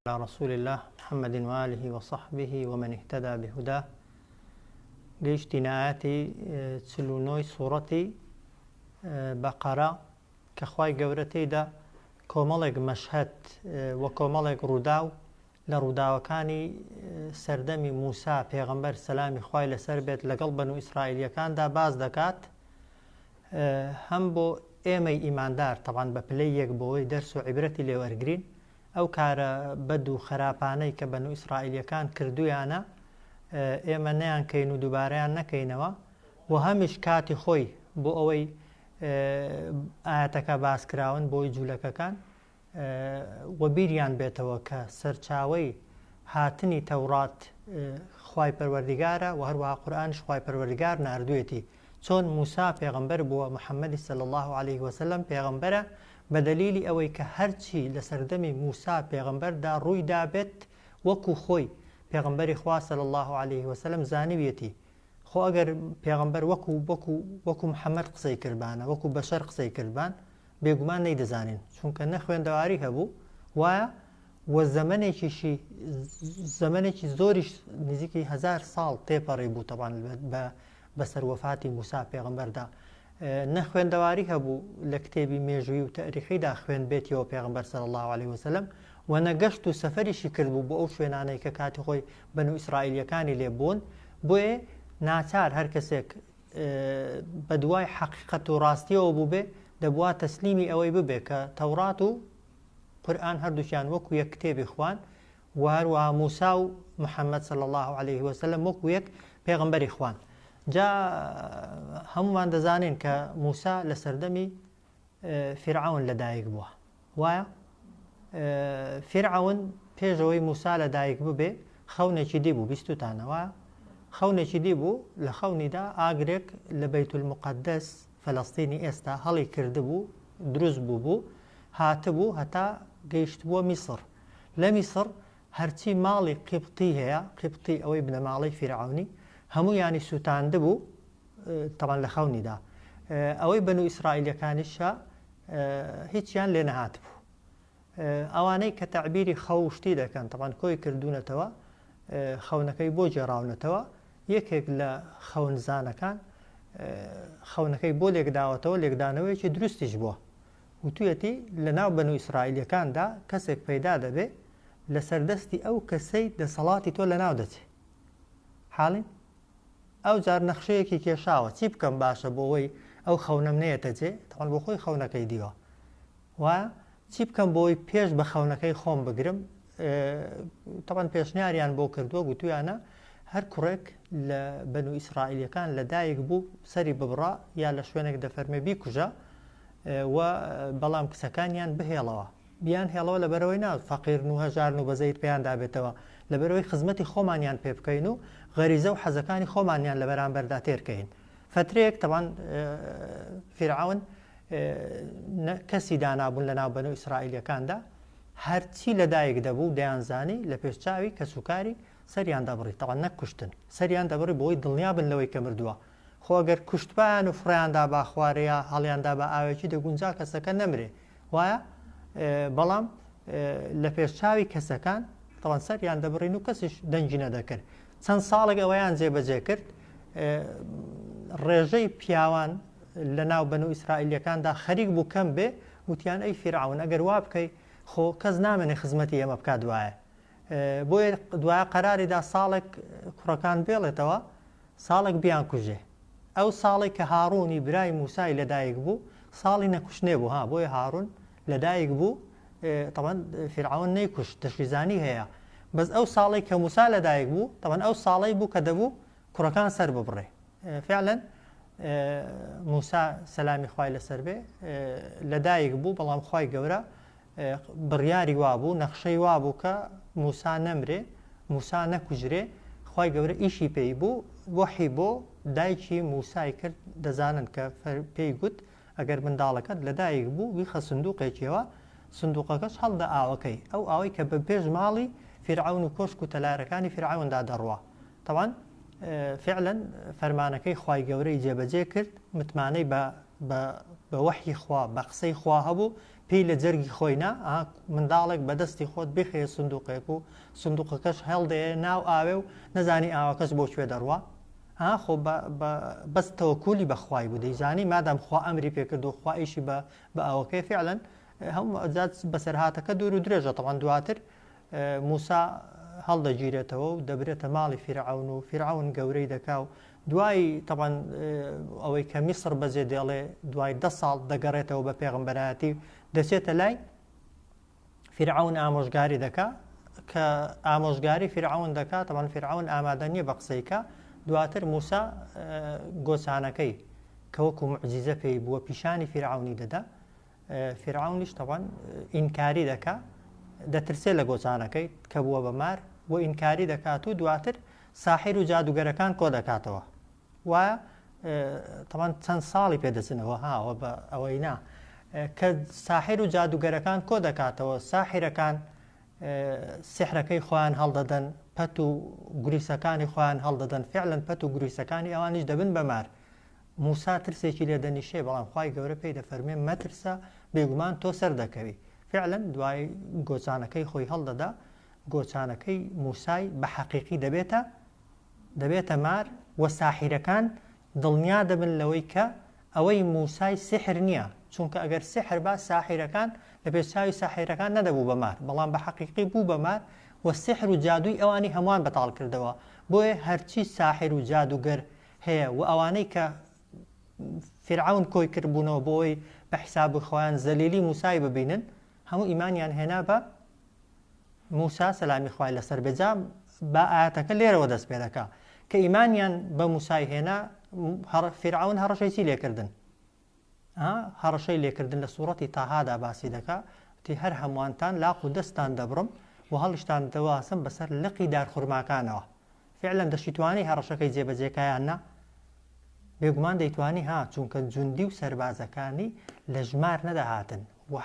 علی رسول اللە محمد و آله و صحبه و من اهتدی بهداه گەیشتینە ئاەتی چل و نۆی سوڕەتی بەقەرە کە خوای گەورە تێیدا کۆمەڵێک مەشهد و کۆمەڵێک ڕووداو لە ڕووداوەکانی سەردەمی موسا پێغەمبەر سەلامی خی لەسەر بێت لەگەڵ بەن و ئیسرائیلەکاندا باز دەکات هەم بۆ ئێمەی ئیماندار تەوان بە پلەی یەک بۆەوەی دەرس و عیبرەتی لێوەرگین ئەو کارە بەد و خەراپانەی کە بەنو ئیسرائیلیەکان کردویانە ئێمە نەیان کەین و دوبارەیان نەکەینەوە و هەمیش کاتی خۆی بۆ ئەوەی ئاەتەکە باسکراون بۆی جوولەکەکان وەبیریان بێتەوە کە سەرچاوی هاتنی تەوڕات خی پەروەردیگارە و هەروەها قورآانش خی پەروەردگار نردوێتی چۆن موسا پێغەمبەر بووە محمدی صلی اللە علیە وسلم پێغەمبەرە بەدەلیلی ئەوەی کە هەرچی لەسەردەمی موسا پێغەمبەردا ڕووی دابێت وەکو خۆی پێغەمبەری خوا صلی اللە علیە وسلم زانیویەتی خۆ ئەگەر پێغەمبەر وەکو وەکو وەکو محمد قسەی کردبانە وەکو بەشەر قسەی کردبان بێگومان نەیدەزانین چونکە نە خوێندەواری هەبوو وایە و زەمەنێکیشی زەمەنێکی زۆریش نزیکی هزار ساڵ تێپەڕی بوو تەبان بە بەسەر وەفاتی موسا پێغمبەردا نەخوێندەواری هەبوو لە کتێبی مێژووی و تەریحیدا خوێن بێتیەوە پێغمبەر سەر الله عليه وسلم و نەگەشت و سەفەریشی کردبوو بۆ ئەو شوێنانەی کە کاتی خۆی بەن و ئیسرائیلەکانی لێ بوون بۆێ ناچار هەر کەسێک بە دوای حەقیقەت و ڕاستیەوە بووبێ دەبوا تەسلیمی ئەوەی ببێ کە تەورات و قورئان هەردووکیان وەکو یەک کتێبی خوان و هەروەها موسا و محمد صلی اللە علیه وسلم وەکو یەک پێغمبەری خوان جا هەمومان دەزانین کە موسا لە سەردەمی فرعون لەدایک بووە وایە فرعون پێشەوەی موسا لە دایک ببێ خەونێکی دی بوو بیستوتانەوە خەونێکی دی بوو لە خەونیدا ئاگرێک لە بەیتول مقدس فەلەستینی ئێستا هەڵی کردبوو، دروست بووبوو، هاتبوو هەتا گەیشتبووە میسڕ. لە میسڕ هەرچی ماڵی قیبطی هەیە، قیبطی ئەوەی بنەماڵەی فیرعەونی، هەموویانی سووتاندبوو، تەبعەن لە خەونیدا. ئەوەی بەنو ئیسرائیلییەکانیشە هیچیان لێ نەهاتبوو. ئەوانەی کە تەعبیری خەو و شتی دەکەن تەبعەن کۆی کردوونەتەوە خەونەکەی بۆ گێڕاونەتەوە یەکێک لە خەونزانەکان خەونەکەی بۆ لێکداوەتەوە لێکدانەوەیەکی دروستیش بووە وتویەتی لە ناو بەن و ئیسرائیلەکاندا کەسێک پەیدا دەبێ لە سەردەستی ئەو کەسەی دەسەڵاتی تۆ لە ناو دەچێ حاڵین ئەو جار نەخشەیەکی کێشاوە چی بکەم باشە بۆ ئەوەی ئەو خەونەم نەیەتە جێ تەوان بۆ خۆی خەونەکەی دیوە و چی بکەم بۆی پێش بە خەونەکەی خۆم بگرم تەبەن پێشنیاریان بۆ کردووە گوتویانە هەر کوڕێک لە بەن و ئیسرائیلەکان لە دایک بوو سەری ببڕە یا لە شوێنێک دەفەرمێ بیکوژە و بەڵام کچەکانیان بهێڵەوە بیان هێڵەوە لە بەرەوەی ناز فەقیرن و هەژارن و بەزەیت پێیان دابێتەوە لە بەرەوەی خزمەتی خۆمانیان پێ بکەین و غەریزە و حەزەکانی خۆمانیان لە بەرامبەردا تێرکەین فترەیەک تەوان فیرعون نە کەسی دانابوون لە ناو بەنو ئیسرائیلیەکاندا هەرچی لە دایک دەبوو دەیانزانی لە پێش چاوی کەس و کاری سەریان دەبڕی تەوە نەک کوشتن سەریان دەبڕی بۆی دڵنیا بن لەوەی کە مردووە خۆگەر کوشتبان و فڕیاندا با خوارەیە هەڵیاندا بە ئاوێکی دەگونجا کەسەکە نەمرێ وایە بەڵام لە پێش چاوی کەسەکان تەوان سەریان دەبڕین و کەسیش دەنگی نەدەکرد چەند ساڵێک ئەوەیان جێبەجێ کرد ڕێژەی پیاوان لە ناو بەنو ئیسرائیلیەکاندا خەریک بوو کەم بێ وتیان ئەی فیرعون ئەگەر وا بکەی خۆ کەس نامێنێ خزمەتی ئێمە بکات دوایە بۆیە دوایە قەراریدا ساڵێک کوڕەکان بێڵێتەوە ساڵێک بیان کوژێ ئەو ساڵی کە هاڕوونی برای موسای لەدایک بوو ساڵی نەکوشتێ بوو ها بۆیە هاڕون لەدایک بوو تەبەن فیرعەون نەیکوشت دەشیزانی هەیە بەس ئەو ساڵی کە موسا لەدایک بوو تەبەن ئەو ساڵی بوو کە دەبوو کوڕەکان سەر ببڕێ فعلەن موسا سەلامی خوای لەسەر بێ لەدایک بوو بەڵام خی گەورە بڕیاری وابوو نەخشەی وابوو کە موسا نەمرێ موسا نەکوژرێ خی گەورە ئیشی پێی بوو وەحی بۆ دایکی موسای کرد دەزانن کە پێی گوت ئەگەر منداڵەکەت لەدایک بوو بیخە سندوقێکیەوە سندوقەکەش هەڵدە ئاوەکەی ئەو ئاوەی کە بە پێش ماڵی فیرعەون و کۆشک و تەلارەکانی فیرعەوندا دەڕوا تەبعەن فعلا فەرمانەکەی خوای گەورەی جێبەجێ کرد متمانەی بە بە بە وەحی خوا بە قسەی خوا هەبوو پێی لە جەرگی خۆی نا ئا منداڵێک بە دەستی خۆت بخەیە سندوقێک و سندوقەکەش هەڵدەیە ناو ئاوێ و نەزانی ئاوەکەش بۆ کوێ دەڕوا ها خۆ بە بە بەس تەوەکولی بە خوای بوو دەیزانی مادام خوا ئەمری پێکردو خوا ئیشی بە بە ئەوەکەی فعلا هەم ئەزات بەسەرهاتەکە دوور و درێژە تەوان دواتر موسا هەڵدەگیرێتەوە و دەبرێتە ماڵی فیرعون و فیرعون گەورەی دەکا و دوای تەوان ئەوەی کە میسر بەجێ دێڵێ دوای دە ساڵ دەگەڕێتەوە بە پێغمبەرایەتی دەچێتە لای فیرعەون ئامۆژگاری دەکا کە ئامۆژگاری فیرعەون دەکات تەمان فیرعەون ئامادە نییە بە قسەی کە دواتر موسا گۆچانەکەی کە وەکو معجیزە پێی بووە پیشانی فیرعونی دەدا فیرعونیش تەوان ئینکاری دەکا دەترسێ لە گۆچانەکەی کە بووە بە مار بۆ ئینکاری دەکات و دواتر ساحیر و جادوگەرەکان کۆ دەکاتەوە وە تەمان چەند ساڵی پێدەچنەوە هاوە بە ئەوەی نا کە ساحر و جادوگەرەکان کۆ دەکاتەوە ساحرەکان سحرەکەی خۆیان هەڵدەدەن پەت و گوریسەکانی خۆیان هەڵدەدەن فعلەن پەت و گوریسەکانی ئەوانیش دەبن بەمار موسا ترسێکی لێ دەنیشێ بەڵام خی گەورە پێی دەفەرمێ مەترسە بێگومان تۆ سەر دەکەوی فعلەن دوای گۆچانەکەی خۆی هەڵدەدا گۆچانەکەی موسای بە حەقیقی دەبێتە دەبێتە مار وە ساحیرەکان دڵنیا دەبن لەوەی کە ئەوەی موسای سیحر نیە چونکە ئەگەر سیحر با ساحیرەکان لە پێش چاوی ساحیرەکان نەدەبوو بە مار بەڵام بە حەقیقی بوو بە مار وە سیحر و جادووی ئەوانی هەموان بەتاڵ کردەوە بۆیە هەرچی ساحر و جادووگەر هەیە وە ئەوانەی کە فیرعەون کۆی کرد بوونەوە بۆ ئەوەی بە حیساب خۆیان زەلیلی موسای ببینن هەموو ئیمانیان هێنا بە موسا سەلامی خوای لەسەر بێت جا با ئایەتەکە لێرەوە دەست پێ دەکا کە ئیمانیان بە موسای هێنا فیرعون هەڕەشەی چی لێکردن هەڕەشەی لێکردن لە سوورەتی تاهادا باسی دەکا تی هەر هەمووانتان لاق و دەستان دەبڕم و هەڵیشتان دەواسم بەسەر لقی دارخورماکانەوە فیعلەن دەشیتوانی هەڕەشەکەی جێبەجێکا یان نا؟ بێگومان دەیتوانی ها چونکە جوندی و سەربازەکانی لە ژمار نەدەهاتن و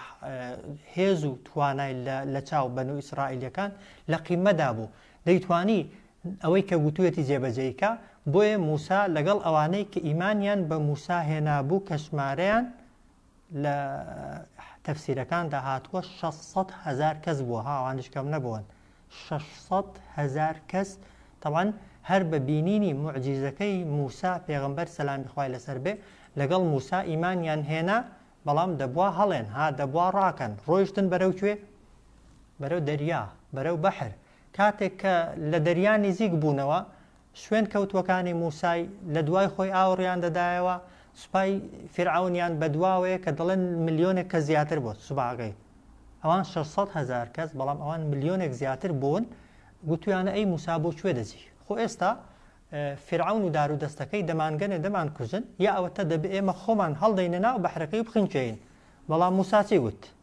هێز و توانای لە چاو بەن و ئیسرائیلەکان لە قیمەدا بوو دەیتوانی ئەوەی کە گوتوێتی جێبەجێیکە بۆیە موسا لەگەڵ ئەوانەی کە ئیمانیان بە موسا هێنابوو کە ژمارەیان لە تەفسیرەکاندا هاتووە شەش سەد هەزار کەس بووە ها ئەوانیش کەم نەبوون شەش سەد هەزار کەس طبعا هەر بە بینینی معجیزەکەی موسا پێغمبەر سەلامی خوای لەسەر بێ لەگەڵ موسا ئیمانیان هێنا بەڵام دەبوا هەڵێن ها دەبوا ڕاکەن ڕۆیشتن بەرەو کوێ بەرەو دەریا بەرەو بەحر کاتێک کە لە دەریا نزیک بوونەوە شوێن کەوتووەکانی موسای لەدوای خۆی ئاوڕیان دەدایەوە سوپای فیرعەونیان بەدواوەیە کە دەڵێن ملیۆنێک کەس زیاتر بوون سوباکەی ئەوان شەش سەد هەزار کەس بەڵام ئەوان ملیۆنێک زیاتر بوون گوتویانە ئەی موسا بۆ کوێ دەجی خۆ ئێستا فیرعەون و دارو دەستەکەی دەمانگەنێ دەمان کوژن یا ئەوەتە دەبێ ئێمە خۆمان هەڵدەینە ناو بەحرەکەی و بخنکێین بەڵام موسا چی گوت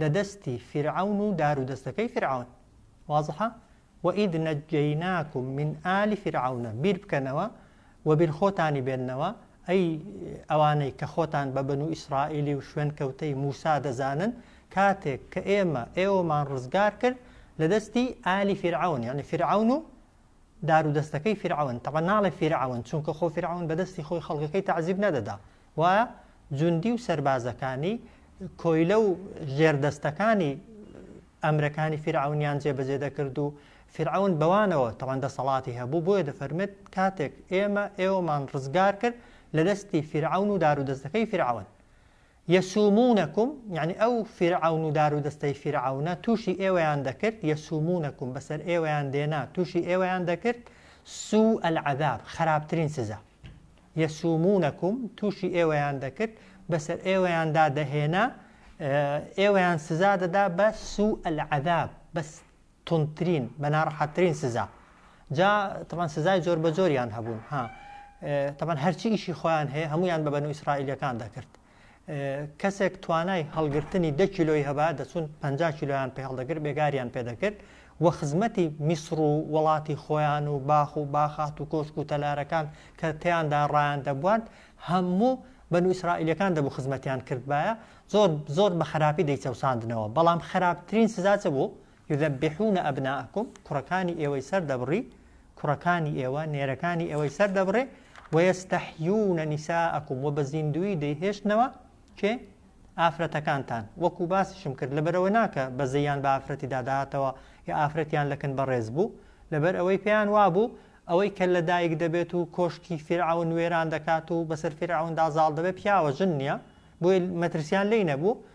لە دەستی فیرعەون و دار و دەستەکەی فیرعەون وازحە وە ئید نەجەیناکوم من ئالی فیرعەونە بیر بکەنەوە وە بیر خۆتانی بێننەوە ئەی ئەوانەی کە خۆتان بە بەنو ئیسرائیلی و شوێن کەوتەی موسا دەزانن کاتێک کە ئێمە ئێوەمان ڕزگار کرد لە دەستی ئالی فیرعەون یعنی فیرعەون و دار و دەستەکەی فیرعەون تەبە ناڵێ فیرعەون چونکە خۆ فیرعەون بە دەستی خۆی خەڵکەکەی تعزیب نەدەدا و جوندی و سەربازەکانی کۆیلە و ژێر دەستەکانی ئەمرەکانی فیرعەونیان جێبەجێ دەکرد و فیرعەون بەوانەوە تەبەن دەسەڵاتی هەبوو بۆیە دەفەرمێت کاتێک ئێمە ئێوەمان ڕزگار کرد لە دەستی فیرعەون و دار و دەستەکەی فیرعەون یەسومونەکم یعنی ئەو فیرعون و دار و دەستەی فیرعونە تووشی ئێوەیان دەکرد یەسومونەکم بەسەر ئێوەیان دێنا تووشی ئێوەیان دەکرد سوو ئەلعذاب خراپترین سزا یسومونکم، توشی ئێوەیان دەکرد، بەسەر ئێوەیاندا دەهێنا، ئێوەیان سزا دەدا بە، سوء العذاب، بە توندترین، بە ناڕەحەتترین سزا. جا تەبعەن سزای جۆر بە جۆریان هەبوون، ها، تەبعەن هەرچی ئیشی خۆیان هەیە هەموویان بە بەنو ئیسرائیلیەکان دەکرد. کەسێک توانای هەڵگرتنی دە کیلۆی هەبا دەچون پ کیلۆیان پێ هەڵدەگر بێگاریان پێدەکرد و خزمەتی میسر و وڵاتی خۆیان و باخ و باخات و کۆشک و تەلارەکان کە تیاندا ڕایان دەبووان هەموو بەن و ئیسرائیلەکان دەبوو خزمەتیان کردبایە زۆر زۆر بە خراپی دەیچەوساندنەوە بەڵام خراپترین سزاچە بوو یذبحون ابناءکم کوڕەکانی ئێوەی سەر دەبڕی کوڕەکانی ئێوە نێرەکانی ئێوەی سەر دەبڕێ وەیەستەحیونە نیساءکم و بە زیندووی دەیهێشتنەوە کێ ئافرەتەکانتان وەکو باسیشم کرد لەبەرەوە ناکە بەزەیان بە ئافرەتی داداتەوە یا ئافرەتیان لەکن بەڕێز بوو لەبەر ئەوەی پێیان وابوو ئەوەی کە لە دایک دەبێت و کۆشکی فیرعون وێران دەکات و بەسەر فیرعوندا زاڵ دەبێت پیاوە ژن نییە بۆی مەترسیان لی نەبوو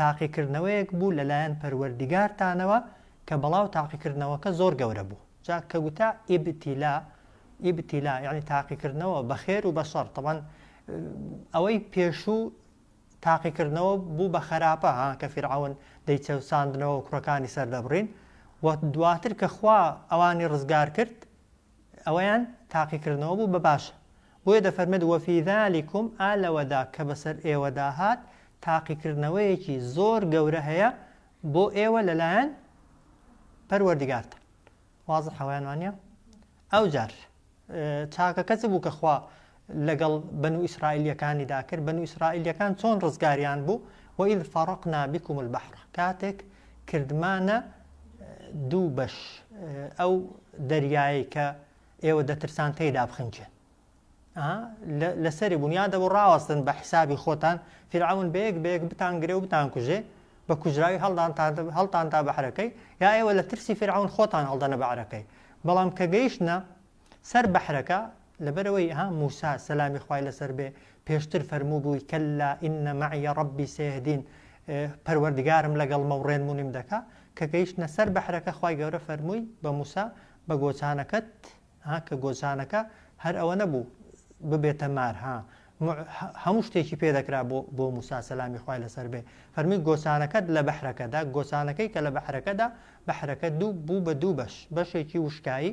تاقیکردنەوەیەک بوو لەلایەن پەروەردیگارتانەوە کە بەڵاو تاقیکردنەوەکە زۆر گەورە بوو جا کە گوتە ابتلاء ابتلاء یەعنی تاقیکردنەوە بە خێر و بە شەڕ تەبعەن ئەوەی پێشوو تاقیکردنەوە بوو بە خەراپە ها کە فیرعەون دەیچەوساندنەوە کوڕەکانی سەردەبڕین و دواتر کە خوا ئەوانی ڕزگار کرد ئەوەیان تاقیکردنەوە بوو بە باش بۆیە دەفەرمێت وەفی ذالکم ئا لەوەدا کە بەسەر ئێوەدا هات تاقیکردنەوەیەکی زۆر گەورە هەیە بۆ ئێوە لەلایەن پەروەردگارتان وازە حەوایان وانە ئەو جار چاکەکە چ بوو کە خوا لەگەڵ بەنو ئیسرائیلیەکانیدا کرد بەنو ئیسرائیلیەکان چۆن ڕزگاریان بوو وەئیذ فەڕەقنا بکم البحر کاتێک کردمانە دوو بەش ئەو دەریایی کە ئێوە دەترسان تێدا بخنچێن لەسەری بوون یا دەبوو ڕاوەستن بە حیسابی خۆتان فیرعون بەیەک بەیەک بتان گرێ و بتان کوژێ بە کوژراوی هەڵدان هەڵتان تا بەحرەکەی یا ئێوە لە ترسی فیرعون خۆتان هەڵدەنە بەعرەکەی بەڵام کە گەیشتە سەر بەحرەکە، لەبەرئەوەی ها موسا، سەلامی خوای لەسەر بێ، پێشتر فەرمووبووی، کەللا ان معی ربی سیهدین، پەروەردگارم لەگەڵمە و ڕێنمونیم دەکا، کە گەیشتنە سەر بەحرەکە خوای گەورە فەرمووی بە موسا، بە گۆچانەکەت، ها کە گۆچانەکە هەر ئەوە نەبوو ببێتە مار، ها موع هەموو شتێکی پێ دەکرا بۆ بۆ موسا، سەلامی خوای لەسەر بێ، فەرمووی گۆچانەکەت لە بەحرەکەدا، گۆچانەکەی کە لە بەحرەکەدا، بەحرەکە دوو بوو بە دوو بەش، بەشێکی وشکایی،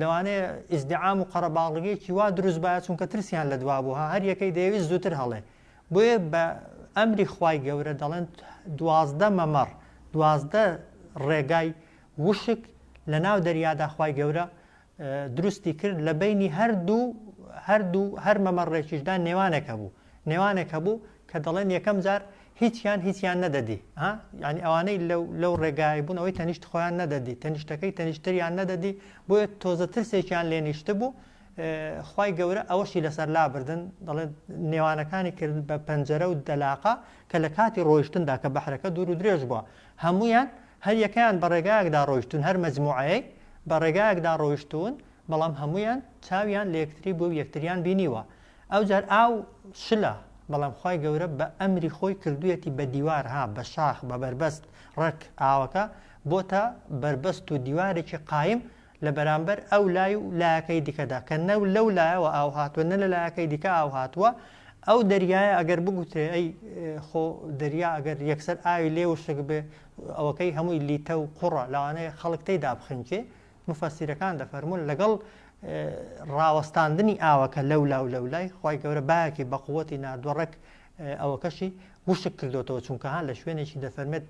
لەوانەیە ئیزدعام و قەرەباڵغیەکی وا دروست بایە چونکە ترسیان لە دوا بوو هەر یەکەی دەیەویست زووتر هەڵێ بۆیە بە ئەمری خوای گەورە دەڵێن دوازدە مەمەڕ دوازدە ڕێگای وشک لە ناو دەریادا خوای گەورە دروستی کرد لە بینی هەردوو هەردوو هەر مەمەڕێکیشدا نێوانێک هەبوو نێوانێک هەبوو کە دەڵێن یەکەم جار هیچیان هیچیان نەدەدی ها یانی ئەوانەی لەو لەو ڕێگای بوون ئەوەی تەنیشت خۆیان نەدەدی تەنیشتەکەی تەنیشتریان نەدەدی بۆیە تۆزە ترسێکیان لێ نیشتبوو خی گەورە ئەوەشی لەسەر لابردن دەڵێن نێوانەکانی کرد بە پەنجەرە و دەلاقە کە لە کاتی ڕۆیشتندا کە بەحرەکە دوور و درێژ بووە هەمویان هەر یەکەیان بە ڕێگایەکدا ڕۆیشتون هەر مەجموعەیە بە ڕێگایەکدا ڕۆیشتون بەڵام هەمویان چاویان لە یەکتری بوو یەکتریان بینیوە ئەوجار ئاو شلە بەڵام خوای گەورە بە ئەمری خۆی کردویەتی بە دیوار ها بە شاخ بە بەربەست ڕێک ئاوەکە بۆتە بەربەست و دیوارێکی قایم لە بەرامبەر ئەو لای و لایەکەی دیکەدا کە نە لەو لایەوە ئاو هاتوە نە لە لایەکەی دیکە ئاو هاتوە ئەو دەریایە ئەگەر بگوترێ ئەی خۆ دەریا ئەگەر یەکسەر ئاوی لێ وشک بێ ئەوەکەی هەمووی لیتە و قوڕە لەوانەیە خەڵک تێدا بخنکێ موفەسیرەکان دەفەرموون لەگەڵ ڕاوەستاندنی ئاوەکە لەولا و لەولای خی گەورە باەکی بەقوەتی نردوە ڕێک ئەوەکەشی وشک کردوتەوە چونکە هەان لە شوێنێکی دەفەرمێت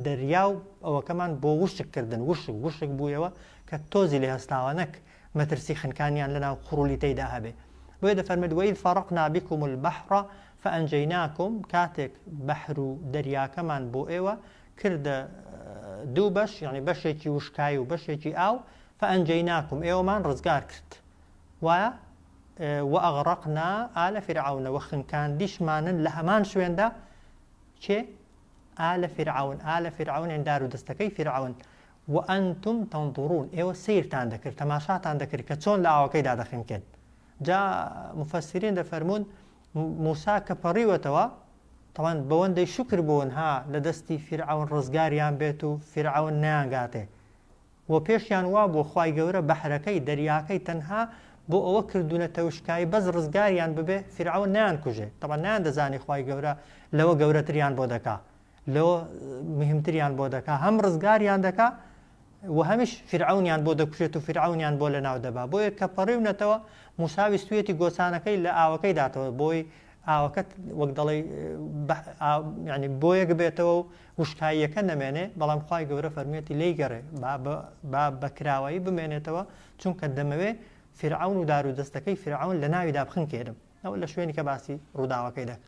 دەریا و ئەوەکەمان بۆ وشک کردن وشک وشک بوویەوە کە تۆزی لە هەستاوە نەک مەترسی خنکانیان لەناو قڕولی تێدا هەبێ بۆیە دەفەرمێت وەیل فەڕق نابیکم و بەحڕە فەنجیناکم کاتێک بەحر و دەریاکەمان بۆ ئێوە کردە دوو بەش یانی بەشێکی وشکایی و بەشێکی ئاو فەئەنجەیناکم ئێوەمان ڕزگار کرد و وەئەغڕەقنا ئالە فیرعەونە وە خنکاندیشمانن لە هەمان شوێندا چێ ئالە فیرعەون ئالە فیرعەون ئەندار و دەستەکەی فیرعەون وەئەنتم تەنظڕون ئێوە سیرتان دەکرد تەماشاتان دەکرد کە چۆن لە ئاوەکەیدا دەخنکێن جا مفەسرین دەفەرمونون موسا کە پەڕیوەتەوە تاوان بەوەندەی شوکر بوون ها لە دەستی فیرعەون ڕزگاریان بێت و فیرعەون نەیانگاتێ و پێشیان وابووە خوای گەورە بەحرەکەی، دەریاکەی، تەنها بۆ ئەوە کردوونە تەوشکایی بەس ڕزگاریان ببێ فیرعەون نەیانکوژێ تاوان نەیاندەزانی خوای گەورە لەوە گەورەتریان بۆ دەکا لۆ مهمتریان بۆ دەکا هەم ڕزگاریان دەکا و هەمیش فرعونیان بۆ دەکوشێت و فرعونیان بۆ لە ناو دەبا بۆیە کە پەڕیونەتەوە موساوی سوێتی گۆچانەکەی لە ئاوەکەی داتەوە بۆی ئاوەکەت وەک دەڵی ینی بۆیەک بێتەوە و وشکاییەکە نەمێنێ بەڵام خی گەورە فەرمێتی لی گەڕێ با بەکراوایی بمێنێتەوە چونکە دەمەوێ فرعون و دار و دەستەکەی فرعون لە ناویدا بخنکێنم ئەوە لە شوێنی کە باسی ڕووداوەکەی دەکە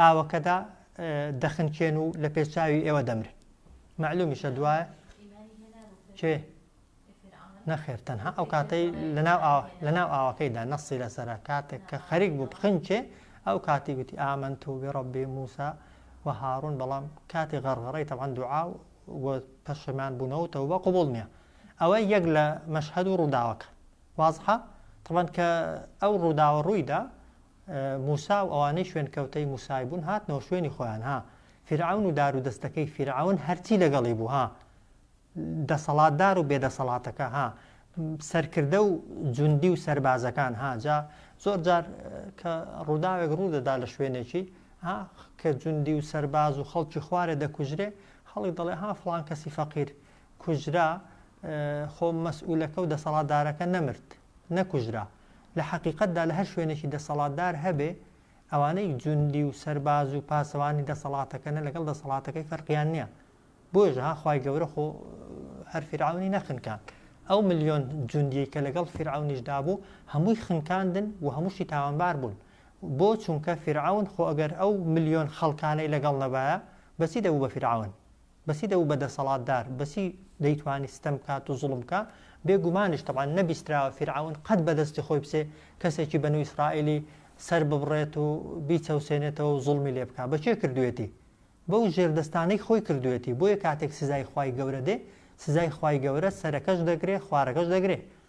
ئاوەکەدا دەخنکێن و لە پێچاوی ئێوە دەمرن معلومیشە دوایە کێ نەخێر تەنها ئەو کاتەی لەناو لەناو ئاوەکەیدا نەسی لەسرە کاتێک کە خەریک بوو بخنکێ ئەو کاتی گوتی ئامن تو بڕبی موسا و هاڕون بەڵام کاتی غەڕغەڕی تەوان دوعا و پەشمان بوونەوە تەوبە قوبڵ نییە ئەوە یەک لە مەشهد و ڕووداوەکە وازحە تەوان کە ئەو ڕووداوە ڕوویدا موسا و ئەوانەی شوێنکەوتەی موسای بوون هاتنەوە شوێنی خۆیان ها فیرعەون و دار و دەستەکەی فیرعەون هەرچی لەگەڵی بوو ها دەسەڵاتدار و بێدەسەڵاتەکە ها سەرکردە و جوندی و سربازەکان ها جا زۆر جار کە ڕووداوێک ڕوو دەدا لە شوێنێکی ها کە جوندی و سەرباز و خەڵکی خوارێ دەکوژرێ خەڵی دەڵێ ها فلان کەسی فەقیر کوژرا خۆ مەسئولەکە و دەسەڵاتدارەکە نەمرد نەکوژرا، لە حەقیقەتدا لە هەر شوێنێکی دەسەڵاتدار هەبێ، ئەوانەی جوندی و سەرباز و پاسەوانی دەسەڵاتەکەنە لەگەڵ دەسەڵاتەکەی فەرقیان نیە، بۆیەش ها خوای گەورە خۆ هەر فیرعەونی نەخنکاند، ئەو ملیۆن جوندیەی کە لەگەڵ فیرعەونیشدا بوو هەمووی خنکاندن و هەمووشی تاوانبار بوون، بۆ چونکە فیرعەون خۆ ئەگەر ئەو ملیۆن خەڵکانەی لەگەڵ نەبایە بەچی دەبوو بە فیرعەون؟ بەچی دەبوو بە دەسەڵاتدار؟ بەچی دەیتوانی ستەم بکات و زوڵم بکا؟ بێ گومانیش تەبعەن نەبیستراوە فیرعەون قەت بە دەستی خۆی بچێ کەسێکی بەنو ئیسرائیلی سەر ببڕێت و بیچەوسێنێتەوە و زوڵمی لێ بکا. بە کێ کردوویەتی؟ بەو ژێردەستانەی خۆی کردوویەتی. بۆیە کاتێک سزای خوای گەورە دێ، سزای خوای گەورە سەرەکەش دەگرێ، خوارەکەش دەگرێ.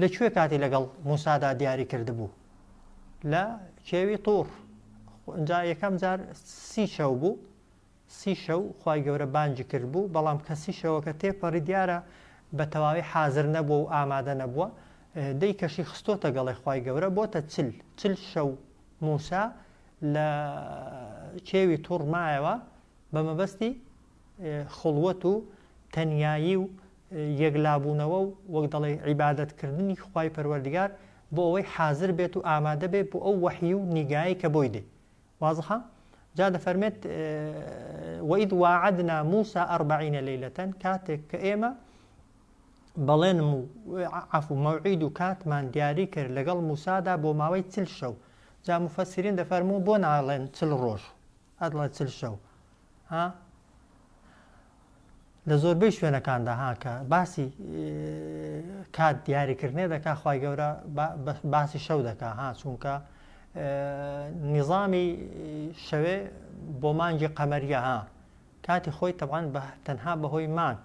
لە کوێ کاتی لەگەڵ موسادا دیاری کردبوو لە کێوی طور ئەجا یەکەم جار سی شەو بوو سی شەو خی گەورە بانجی کرد بوو بەڵام کەسی شەوەکە تێپەڕی دیارە بە تەواوی حازر نەبووە و ئامادە نەبووە دەی کەشی خستۆتە گەڵێ خی گەورە بۆتە چل چل شەو موسا لە کێوی طور مایەوە بە مەبەستی خڵوەت و تەنیایی و یەکلابوونەوە و وەک دەڵێی عیبادەتکردنی خوای پەروەردگار بۆ ئەوەی حازر بێت و ئامادە بێت بۆ ئەو وەحی و نیگایەی کە بۆی دێ وازحە جا دەفەرمێت وەئید واعدنا موسا ئەربعینە لەیلەتەن کاتێک کە ئێمە بەڵێنم و عفو مەوعید و کاتمان دیاری کرد لەگەڵ موسادا بۆ ماوەی چل شەو جا مفەسیرین دەفەرموو بۆ ناڵێن چل ڕۆژ ئەدڵە چل شەو ها لە زۆربەی شوێنەکاندا ها کە باسی کات دیاریکردنێ دەکا خی گەورە باسی شەو دەکا ها چونکە نیظامی شەوێ بۆ مانگی قەمەریە ها کاتی خۆی تەبان بە تەنها بەهۆی مانک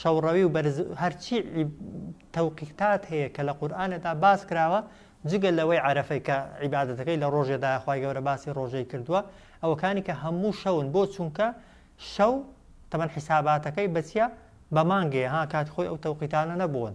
شەوڕەوی و بەرز هەرچی تەوقیتات هەیە کە لە قورئانەدا باس کراوە جگە لەوەی عەرەفەی کە عیبادەتەکەی لە ڕۆژێدا خوای گەورە باسی ڕۆژەی کردووە ئەوەکانی کە هەموو شەون بۆ چونکە شەو تەمەەن حیساباتەکەی بەچە بە مانگێ ها کات خۆی ئەو تەوقیتانە نەبوون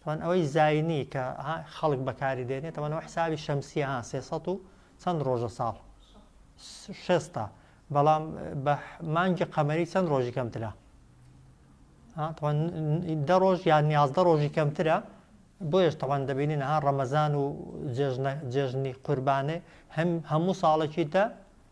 تەبەن ئەوەی زاینی کە ها خەڵک بەکاری دێنێ تەبەن ئەوە حسابی شەمسیە ها سێ سەد و چەند ڕۆژە ساڵ شێستا بەڵام بە مانگی قەمەری چەند ڕۆژی کەمترە دە ڕۆژ یان نیازدە ڕۆژی کەمترە بۆیش تەوان دەبینی نەها ڕەمەزان و جێژنی قوربانێ هەم هەموو ساڵێکی دە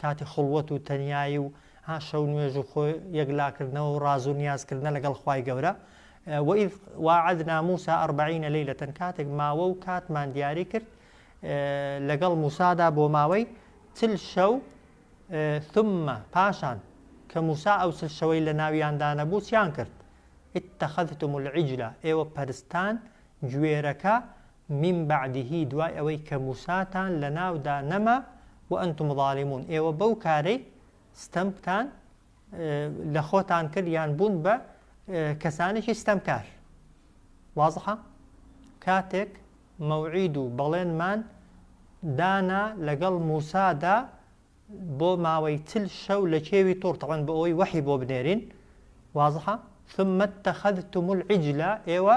کاتی خوڵوەت و تەنیایی و ها شەو نوێژ و خۆ یەک لا کردنەوە و ڕازو نیاز کردنە لەگەڵ خوای گەورە وەئیذ واعدنا موسی اربعین لیلەتەن کاتێک ماوە و کاتمان دیاری کرد لەگەڵ موسادا بۆ ماوەی چل شەو ثم پاشان کە موسا ئەو چل شەوەی لە ناویاندا نەبوو چیان کرد اتخذتم العجلە ئێوە پەرستان گوێرەکە من بعده دوای ئەوەی کە موساتان لەناودا نەما وانتم ظالمون ئێوە بەو کارەی ستەمتان لە خۆتان کرد یان بوون بە کەسانێکی ستەمکار وازحە کاتێک مەوعید و بەڵێنمان دانا لەگەڵ موسادا بۆ ماوەی چل شەو لە کێوی تۆڕ تەوەن بۆ ئەوەی وەحی بۆ بنێرین وازحە ثم اتخذتم العجلە ئێوە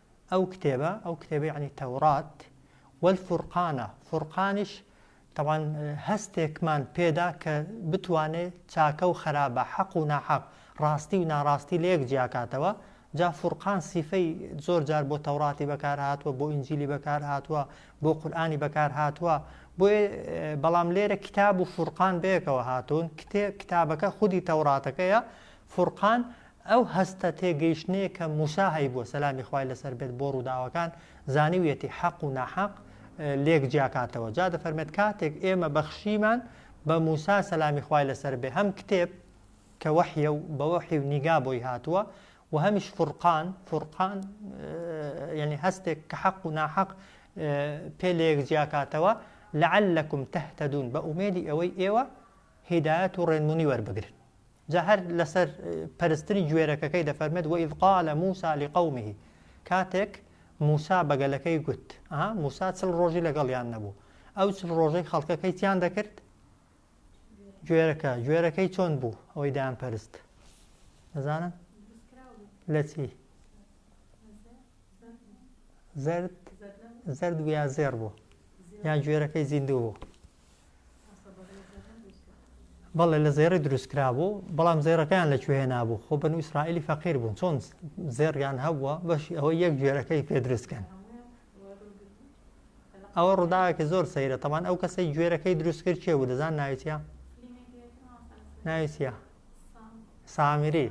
ئەو کتێبە، ئەو کتێبە یەعنی تەورات، والفرقانە، فرقانیش تەبعەن هەستێکمان پێدا کە بتوانێ چاکە و خەرابە، حەق و ناحەق، ڕاستی و ناڕاستی لەیەک جیاکاتەوە، جا فرقان سیفەی زۆر جار بۆ تەوراتی بەکارهاتووە، بۆ ئینجیلی بەکارهاتووە، بۆ قورئانی بەکارهاتووە، بۆیە بەڵام لێرە کتاب و فرقان بەیەکەوە هاتوون، کتێ کتابەکە خودی تەوراتەکەیە، فرقان ئەو هەستە تێگەیشتنەیە کە موسا هەیبووە سەلامی خوای لەسەر بێت بۆ ڕووداوەکان زانیویەتی حەق و ناحەق لێک جیاکاتەوە جا دەفەرمێت کاتێک ئێمە بەخشیمان بە موسا سەلامی خوای لەسەر بێ هەم کتێب کە وەحیە و بە وەحی و نیگا بۆی هاتووە و هەمیش فرقان فرقان یعنی هەستێک کە حەق و ناحەق پێ لێک جیاکاتەوە لەعلەکم تەهتەدون بە ئومێدی ئەوەی ئێوە هیدایەت و ڕێنمونی وەربگرن جا هەر لەسەر پەرستنی گوێرەکەکەی دەفەرمێت وەئیذ قال موسی لقومه کاتێک موسا بەگەلەکەی گوت ئەها موسا چل ڕۆژی لەگەڵیان نەبوو ئەو چل ڕۆژەی خەڵکەکەی تیان دەکرد گوێرەکە گوێرەکەی چۆن بوو ئەوەی دایان پەرست نەزانن لە چی زرد زرد بوو یا زێر بوو یان گوێرەکەی زیندوو بوو بەڵێ لە زێڕی دروست کرابوو بەڵام زێڕەکەیان لە کوێ نابوو خۆ بەن ئیسرائیلی فەقیر بوون چۆن زێڕیان هەبووە بەشی ئەوە یەک گوێرەکەی پێ دروستکەن ئەوە ڕووداوێکی زۆر سەیرە تەمان ئەو کەسەی گوێرەکەی دروست کرد کێ بوو دەزان ناویتە ناویتە سامیری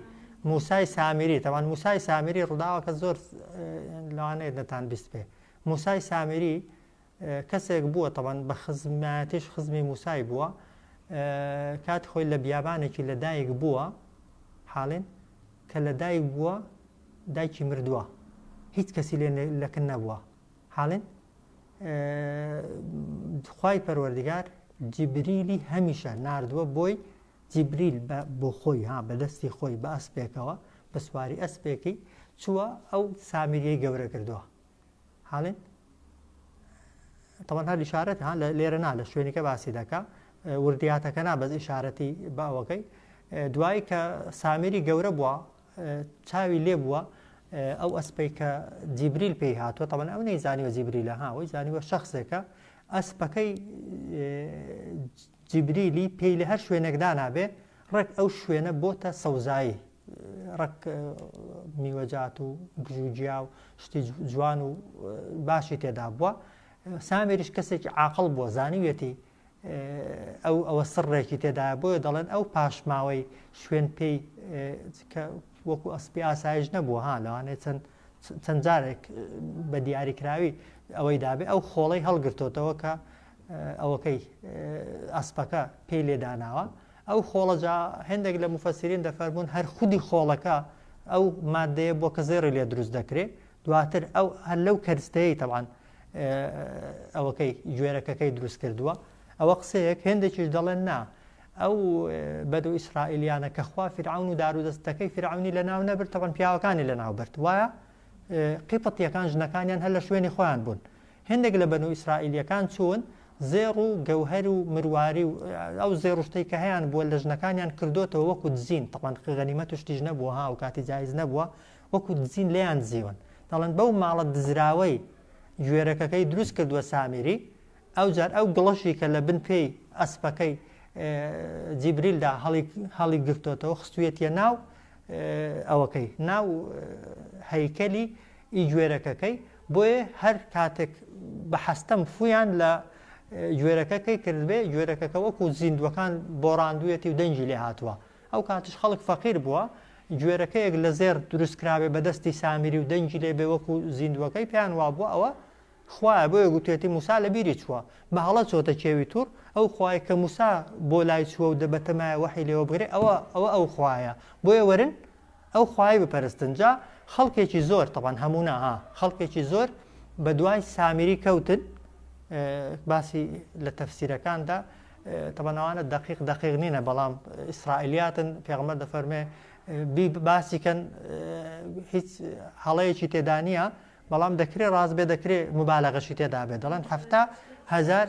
موسای سامیری تەوان موسای سامیری ڕووداوەکە زۆر لەوانەیە نەتان بیست پێ موسای سامیری کەسێک بووە تەبەن بە خزمایەتیش خزمی موسای بووە کاتی خۆی لە بیابانێکی لە دایک بووە حاڵێن کە لە دایک بووە دایکی مردووە هیچ کەسی لێ لەکن نەبووە حاڵێن خی پەروەردگار جیبریلی هەمیشە نردووە بۆی جیبریل بۆ خۆی ها بەدەستی خۆی بە ئەسپێکەوە بە سواری ئەسپێکی چووە ئەو سامیریەی گەورە کردووە هاڵێن تەوەنها لشارەت ها لێرە نا لە شوێنەکە باسی دەکە وردیاتەکە نا بەس ئشارەتی باوەکەی دوایی کە سامیری گەورە بووە چاوی لێ بووە ئەو ئەسپەی کە جیبریل پێی هاتووە تەمەەن ئەو نەی زانیوە جیبریلە هاوەی زانیوە شخصێکە ئەسپەکەی جیبریلی پێی لە هەر شوێنێکدا نابێ ڕێک ئەو شوێنە بۆتە سەوزایی ڕەگ میوەجات و گژوگیا و شتی جوان و باشی تێدا بووە سامێریش کەسێکی عاقل بووە زانیویەتی ئەو ئەوە سڕێکی تێدا بۆیە دەڵێن ئەو پاشماوەی شوێن پێی وەکو ئەسپی ئاسایش نەبووە ها لەوانێت چەند چەند جارێک بە دیاری کراوی ئەوەی دابێ ئەو خۆڵەی هەڵگرتۆتەوە کە ئەوەکەی ئەسپەکە پێی لێداناوە ئەو خۆڵە جا هێندێک لە موفەسیرین دەفەرموون هەر خودی خۆڵەکە ئەو ماددەیە بووە کە زێڕی لێ دروست دەکرێ دواتر ئەو هەر لەو کەرستەیەی تەبعەن ئەوەکەی گوێرەکەکەی دروست کردووە ئەوە قسەیەک هێندێکیش دەڵێن نا ئەو بەدو ئیسرائیلیانە کە خوا فرعون و دارودەستەکەی فرعونی لە ناو نەبرد تەبەن پیاوەکانی لە ناو برد وایە قیپەتیەکان ژنەکانیان هەر لە شوێنی خۆیان بوون هێندێک لە بەنو ئیسرائیلیەکان چوون زێڕ و گەوهەر و مرواری و ئەو زێڕ و شتەی کە هەیان بووە لە ژنەکانیان کردۆتەوە وەکو دزین تەبعەن غەنیمەت و شتیش نەبووە ها ئەو کاتی جایز نەبووە وەکو دزین لێیان دزیون دەڵێن بەو ماڵە دزراوەی گوێرەکەکەی دروست کردووە سامیری ئەو جار ئەو گڵەشی کە لە بن پێی ئەسپەکەی جیبریلدا هەڵی هەڵی گرتۆتەوە خستویەتە ناو ئەوەکەی ناو هەیکەلی ئی گوێرەکەکەی بۆیێ هەر کاتێک بە حەستەم فویان لە گوێرەکەکەی کردبێ گوێرەکەکە وەکو زیندوەکان بۆ ڕاندویەتی و دەنگی لێ هاتووە ئەو کاتش خەڵک فەقیر بووە گوێرەکەیەک لە زێر دروستکراوێ بەدەستی سامیری و دەنگی لێ بێ وەکو زیندوەکەی پێیان وابووە ئەوە خوایە بۆیە گوتێتی موسا لە بیری چووە بە هەڵە چۆتە کێوی تور ئەو خوای کە موسا بۆ لای چووە و دەبەتەمایە وەحی لێوە بگرێ ئەوە ئەوە ئەو خوایە بۆیە وەرن ئەو خوایەی بپەرستن جا خەڵکێکی زۆر تەبعەن هەموو نا ها خەڵکێکی زۆر بە دوای سامیری کەوتن باسی لە تەفسیرەکاندا تەبەن ئەوانە دقیق دقیق نینە بەڵام ئیسرائیلیاتن پێغمە دەفەرمێ باسیکەن هیچ هەڵەیەکی تێدا نییە بەڵام دەکرێ ڕاست بێ دەکرێ مبالەغەشی تێدا بێت دەڵێن هەفتا هزار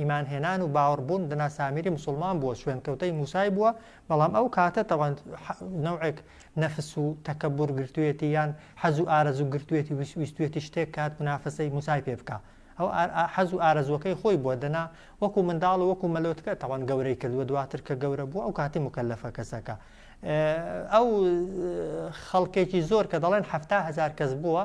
ئیمان هێنان و باوەڕ بوون دەنا سامیری مسلمان بووە شوێنکەوتەی موسای بووە بەڵام ئەو کاتە تەوان نەوەک نەفس و تەکەبور گرتوێتی یان حەز و ئارەزوو گرتوێتی ویستوێتی شتێک کات منافەسەی موسای پێ بکە ئەو حەز و ئارەزوەکەی خۆی بووە دەنا وەکو منداڵ و وەکو مەلۆتکە تەوان گەورەی کردووە دواتر کە گەورە بوو ئەو کاتی مکەلەفە کەسەکە ئەو خەڵکێکی زۆر کە دەڵێن هزار کەس بووە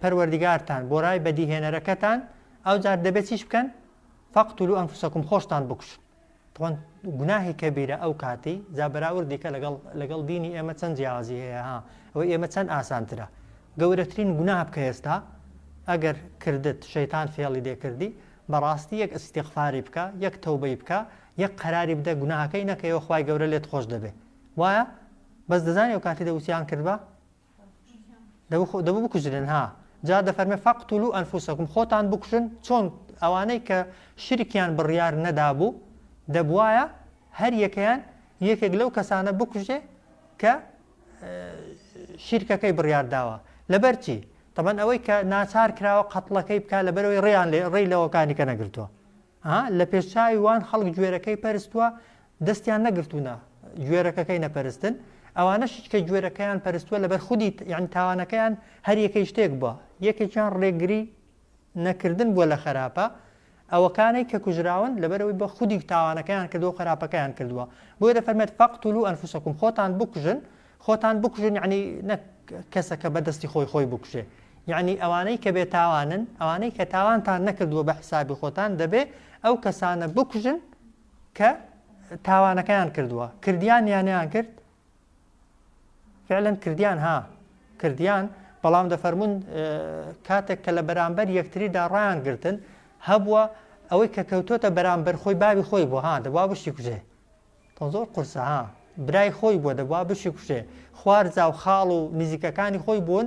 پەروەردگارتان بۆ رای بەدیهێنەرەکەتان ئەوجار دەبێت چیش بکەن فەقتولو ئەنفسەکم خۆشتان بکوشن تۆن گوناهی کەبیرە ئەو کاتی جا بەراوردیکە لەگەڵ لەگەڵ دینی ئێمە چەند جیاوازی هەیە ها ئەوە ئێمە چەند ئاسانترە گەورەترین گوناه بکە ئێستا ئەگەر کردت شەیتان فێڵی دێکردی بەڕاستی یەک ئەسیتیغفاری بکە یەک تەوبەی بکە یەک قەراری بدە گوناهەکەی نەکەیەوە خی گەورە لێت خۆش دەبێ وایە بەس دەزانانی ئەو کاتی دەوسیان کردبا دەبوو بکوژرێن ها جا دەفەرمێ فەقتولو ئەنفوسەکم خۆتان بکوژن چۆن ئەوانەی کە شرکیان بڕیار نەدابوو دەبواە هەر یەکەیان یەکێک لەو کەسانە بکوژێ کە شیرکەکەی بڕیار داوە لەبەرچی تەبەن ئەوەی کە ناچار کراوە قەتڵەکەی بکە لەبەرەوەی ڕیان لێ ڕێی لەوەکانی کە نەگرتووە ئا لە پێش چاوی وان خەڵک گوێرەکەی پەرستوە دەستیان نەگرتونە گوێرەکەکەی نەپەرستن ئەوانەشیش کە گوێرەکەیان پەرستوە لەبەر خودی یعنی تاوانەکەیان هەر یەکەی شتێک بووە یەکێکیان ڕێگری نەکردن بووە لە خراپە ئەوەکانەی کە کوژراون لەبەرەوەی بە خودی تاوانەکەیان کردو خراپەکەیان کردووە بۆیە دەفەرمێت فەقتولو ئەنفوسەکم خۆتان بکوژن خۆتان بکوژن یەعنی نەک کەسەکە بە دەستی خۆی خۆی بکوژێ یەعنی ئەوانەی کە بێ تاوانن ئەوانەی کە تاوانتان نەکردووە بە حیسابی خۆتان دەبێ ئەو کەسانە بکوژن کە تاوانەکەیان کردووە کردیان یانیان کرد فعلەن کردیان ها کردیان بەڵام دەفەرمونون کاتێک کە لە بەرامبەر یەکتریدا ڕایان گرتن هەبووە ئەوەی کە کەوتۆتە بەرامبەر خۆی باوی خۆی بۆ ها دەبا بشتی کوژێ تۆ زۆر قورسە ها. برای خۆی بووە دەبوا بشی کوژێ خوار زاو خاڵ و نزیکەکانی خۆی بوون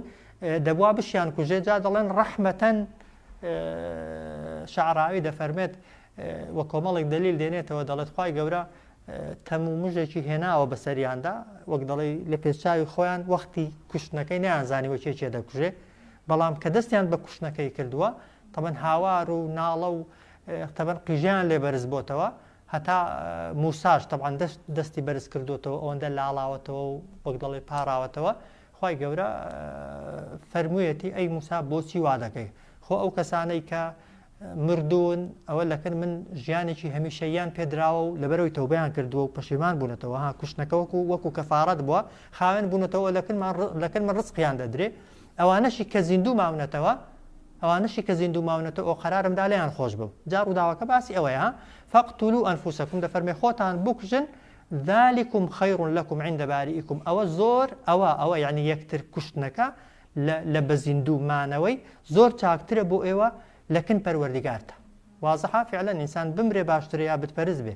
دەبوا بشیان کوژێ جا دەڵێن ڕەحمەتەن شعراوی دەفەرمێت وە کۆمەڵێک دلیل دێنێتەوە دەڵێت خی گەورە تەم و مژێکی هێناوە بەسەریاندا وەک دەڵی لە پێچاوی خۆیان وەختی کوشتنەکەی نیانزانی وەکێ چێ دەکوژێ بەڵام کە دەستیان بە کوشتنەکەی کردووە تەمەەن هاوار و ناڵە و تەبەن قیژیان لێ بەرز بۆتەوە هەتا موساش تەبعەن دەست دەستی بەرز کردۆتەوە ئەوەندە لاڵاوەتەوە و وەک دەڵێ پاڕاوەتەوە خوای گەورە فەرموویەتی ئەی موسا بۆچی وا دەکەی خۆ ئەو کەسانەی کە مردوون ئەوە لەکن من ژیانێکی هەمیشەیان پێدراوە و لەبەرەوەی تەوبیان کردووە و پەشیمان بوونەتەوە ها کوشتنەکەوەکو وەکو کەفاارەت بووە خاوێن بوونەتەوە لەکن لەکن من ڕزقیان دەدرێ ئەوانەشی کە زیندوو ماونەتەوە ئەوانەشی کە زیندوو ماونەتە ۆە قەرارم دا لێیان خۆش بم جا ڕووداوەکە باسی ئەوەیە ها فقتلو انفسکم دەفەرمێ خۆتان بکوژن ذلکم خیر لکم عند باریکم ئەوە زۆر ئەوە ئەوە یانی یەکتر کوشتنەکە لە لە بە زیندوو مانەوەی زۆر چاکترە بۆ ئێوە لە کن پەروەردگارتان وازحە فعلا ئینسان بمرێ باشترە یا بت پەرست بێ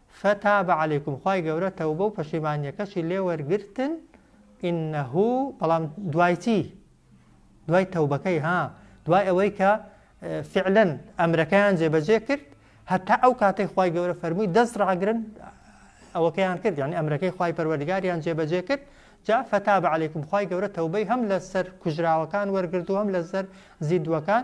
فتاب علیکم خوای گەورە تەوبە و پەشیمانیەکەشی لێ وەرگرتن انه بەڵام دوای چی دوای تەوبەکەی ها دوای ئەوەی کە فعلا ئەمرەکەیان جێبەجێ کرد هەتا ئەو کاتەی خوای گەورە فەرمووی دەست ڕاگرن ئەوەکەیان کرد یعنی ئەمرەکەی خوای پەروەردگاریان جێبەجێ کرد جا فتاب علیکم خوای گەورە تەوبەی هەم لەسەر کوژراوەکان وەرگرتو هەم لەسەر زیدوەکان